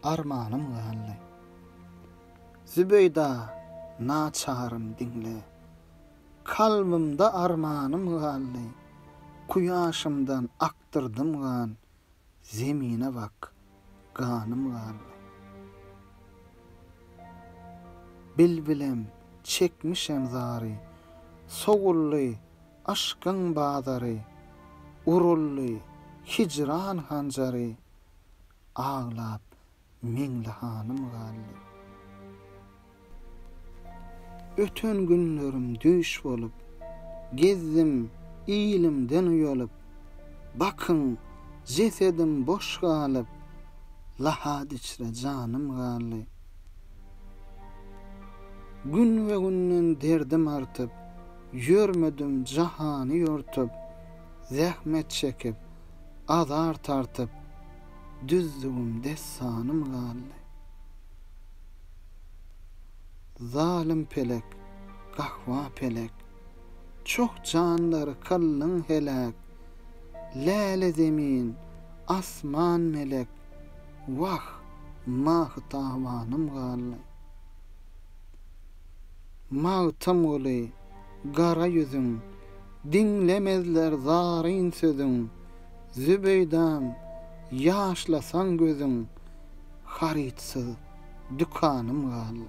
Armanym galdy. Zübeýda naçarym diňle. Kalbymda armanym galdy. Kuýaşymdan akdyrdym gan. Zemine bak, ganym galdy. Bilbilem çekmişem zary. Sowuldy Aşkyň bazary, uruldy hijran hanjary, Aglap Meňli hanym galdy. Öten günlerim düýş bolup, Gezdim ilimden uýalyp, Bakyň, jesedim boş galyp, Lahat içre janym galdy. Gün we günden derdim artyp, Ýörmedim jahany ýortup, Zähmet çekip, azar tartyp, Düzdügim dessanym galdy. Zalym pelek, gahwa pelek, Çoh janlary kyldyn heläk, Läle zemin, asman melek, Wah, mahy-tawanym galdy. Magtymguly, gara ýüzüň. Diňlemezler zaryn sözüň. Zübeýdam, ýaşlasaň gözüň. Harytsyz dükanym galdy.